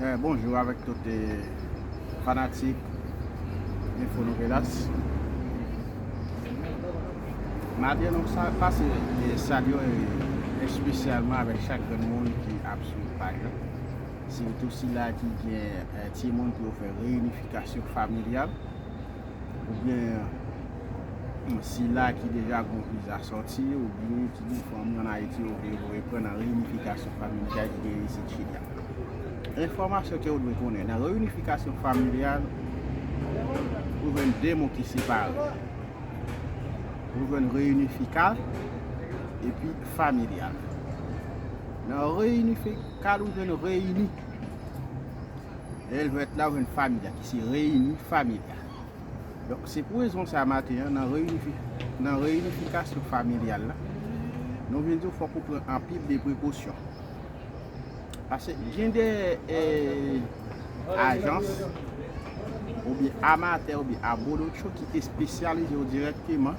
Eh, bonjou avèk tout fanatik Info Novelas. Madi nou sa pase salyo espesyalman avèk chak grenn moun ki ap swiv paj la. Sitou sila ki gen timoun pou yo fè reyinifikasyon familyal. ou byen sila ki deja gon viza sòti, ou byen ki gen fanmi an Ayiti yo vle voye pran nan reyinifikasyon familyal ki genyen isit Chili a. Enfòmasyon ke ou dwe konnen, nan reyinifikasyon familyal, ou jwenn 2 mo ki separe. Ou jwenn reyinifikal epi familyal. Nan reyinifikal ou jwenn reyini, lè l jwenn la ou jwenn familyal. Se reyini familya. Donk se pou rezon sa maten an nan nan reyinifikasyon familyal la, nou vin di w fòk ou pran anpil de prekosyon. Pase gen de ajans oubyen amatè oubyen abolotcho ki espesyalize yo dirèkteman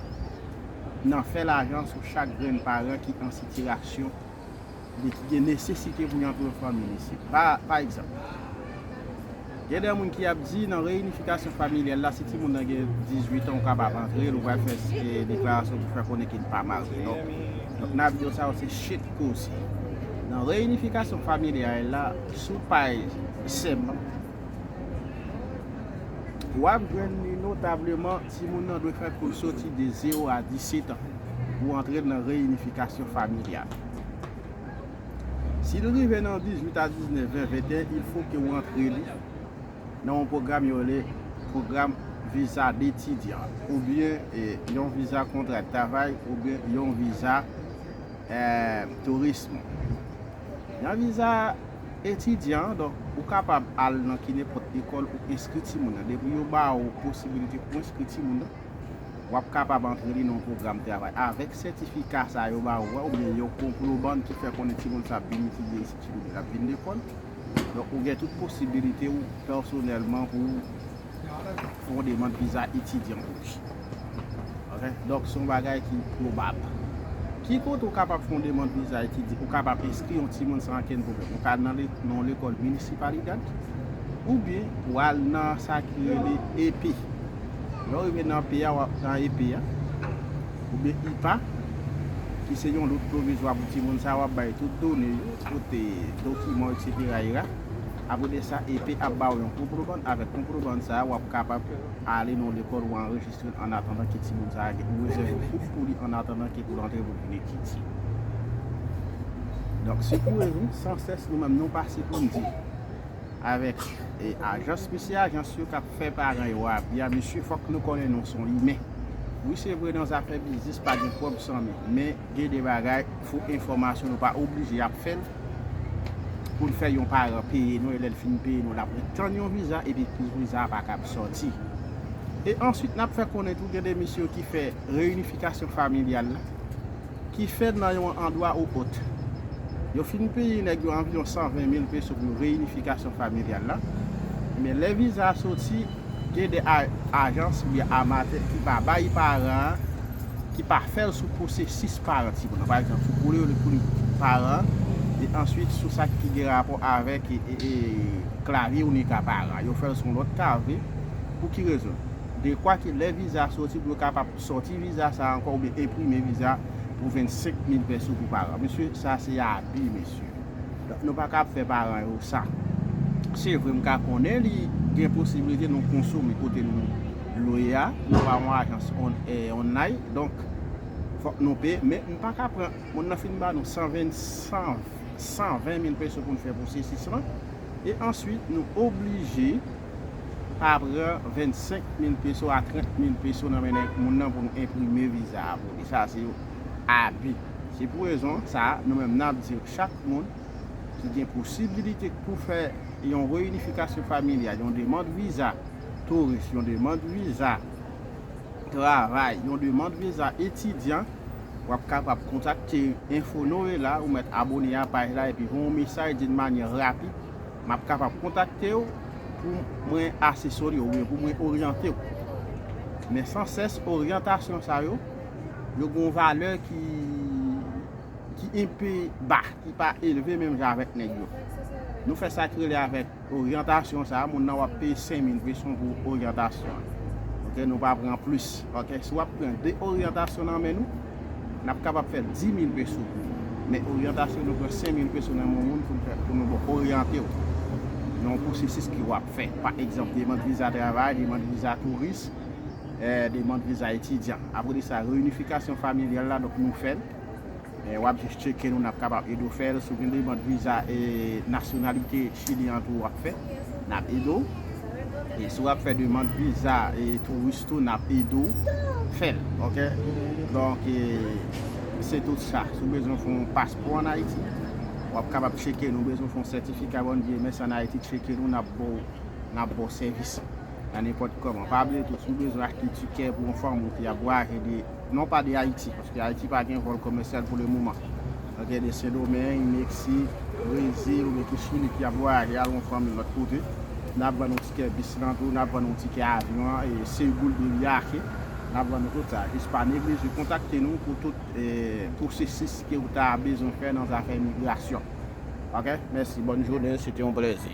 nan fè lajan sou chak grenn paran ki an sitirasyon. li gen nesesite pou yon aprè fanmi li se pa pa egzanp gen de moun ki ap di nan reyinifikasyon familyal la si ti moun nan gen 18 an ou kapab antre l ou pral fè se deklarasyon pou fè konnen ke li pa marye non donk n ap di yo sa yo se shit koze nan reyinifikasyon familyal la sou paj sem w ap jwenn li notableman Timoun nan dwe fè koul soti de 0 a 17 an pou antre nan reyinifikasyon familyal. Si li rive nan 18 a 19, 20, 21 il fo ke ou antre li nan yon pwogram yo rele pwogram viza detidyan oubyen yon viza kontra travay oubyen yon viza tourism. Nan viza. Etidyan, donk, ou kapab al nan kinepòt lekòl ou enskri timoun nan. Depi yo ba ou posibilite pou enskri timoun nan, w ap kapab antre li nan yon pwogram travay. Avèk sètifika sa a yo ba ou a oubyen yon konploban ki fè konnen timoun sa a ap vin etidye isit oubyen l ap vin lekòl, donk ou gen tout posibilite ou pèsonèlman pou w Se yon demand viza etidyan pou ki. Ok, donk se yon bagay ki pwobab. Ki kote ou kapab fè yon demand viza etidyan? Ou kapab enskri yon timoun san ankenn pwoblèm. Ou ka al nan yon lekòl minisipalidad, oubyen ou al nan sa ki rele EP. Lè ou rive nan EP a, oubyen IPA, ki se yon lout pwovizwa pou timoun sa, wap bay tout done yo, tout dokiman, etsetera era. Apre de sa EP ap ba ou yon konprobann, avèk konprobann sa a w ap kapab ale nan yon lekòl ou anrejistre l annatandan ke timoun sa a gen ou rezève koup pou li annatandan ke pou l antre pou vin etidye. Donk sekoure nou san sès nou menm nou pase pou n di avèk ajans mesye ajans yo k ap fè paran yo abi a mesye fòk nou konnen nou son imen wi se vre nan zafè biznis pa gen pwòb san men men gen de bagay fo enfòmasyon nou pa oblije ap fè l pou l fè yon paran peye nou e lè l fin peye nou l ap ret tann yon viza epi viza a pa kab sòti. E answit n ap fè konnen tou gen de mesye yo ki fè reyinifikasyon familyal la ki fèt nan yon andwa ou ot. Yo fin peye nèg yo anviwon 120 mil peso pou reyinifikasyon familyal la men lè viza a soti Gen de ajans oubyen amatè ki va bay paran an, ki pa fè l sou pwosesis parenting lan. Pa egzanp, sou koulè yo li koulè paran an, e answit sou sa ki gen rapò avèk klavye oubyen ka paran an. Yo fè l sou yon lòt kavye. Pou ki rezon? Dekwa ke lè viza a soti pou yo kapab soti viza sa a ankò oubyen enprime viza pou 25 mil pèso pou paran. Mesye, sa se abi mesye. Donk nou paka ap fè paran yo sa. Se vre m ka konnen li gen posibilite nou konsome kote nou lwe a, nou pa yon ajans onlay, donk fòk nou peye, men nou paka pran moun nan fin ba nou 120 mil peso pou nou fè pwosesis lan, e answit nou oblije pa pran 25 mil peso a 30 mil peso nan men moun nan pou nou enprime viza a pou li. abi. Se pou rezon sa a, nou menm n ap di chak moun ki gen posibilite pou fè yon reyinifikasyon familyal, yon demand viza touris, yon demand viza travay, yon demand viza etidyan, w ap kapab kontakte Enfo Noe la, ou mèt abone a paj la epi voye yon mesaj di n manyè rapid, m ap kapab kontakte w pou mwen asesore w oubyen pou mwen oryante w. Men san sès oryantasyon sa yo yo gon valè ki ki enpe ba, ki pa elve menm jan avèk nèg yo. Nou fè sa ki rele avèk oryantasyon sa, moun nan wap peye 5000 peson pou oryantasyon an. Ok, nou pa pran plis. Ok, si wap pran 2 oryantasyon nan men nou, nap kapab fè 10000 peso pou ou. Men oryantasyon nou pran 5000 peso nan men yon moun pou nou fè, pou nou bon oryante ou nan yon pwosesis ke wap fè. Pa egzanp, demand viza travay, demand viza touris. Demand viza etidyan. Apre de sa reyinifikasyon familyal la donk nou fèl. Wap jis tcheke nou nap kapab ede w fèl. Si w gen demand viza nasyonalite chilyen an tou wap fè nap ede w. E si wap fè demand viza touris tou nap ede w fèl ok. Donk se tout sa. Si w bezwen fè yon paspò an Ayiti wap kapab tcheke nou. Bezwen fè yon sètifika bòn vye mès an Ayiti tcheke nou nap ba w sèvis. nan nenpòt kòman. Pa bliye tou, si w bezwen achte tikè pou yon fanm ou fi ap vwayaje de, non pa de Ayiti, paske Ayiti pa gen vòl komèsyal pou le moman. Nan gen de Sendomeng, Meksik, Brezil oubyen tou Chili ki ap vwayaje al yon fanmi lòt kote. N ap vann nou tikè bis lan tou, n ap vann nou tikè avyon an, e se goud de viaje. N ap vann nou tout sa. Jis pa neglije kontakte nou pou tout pwosesis ke ou ta bezwen fè nan zafè migrasyon. Ok, mèsi. Bòn jounen. Se te yon plèzi.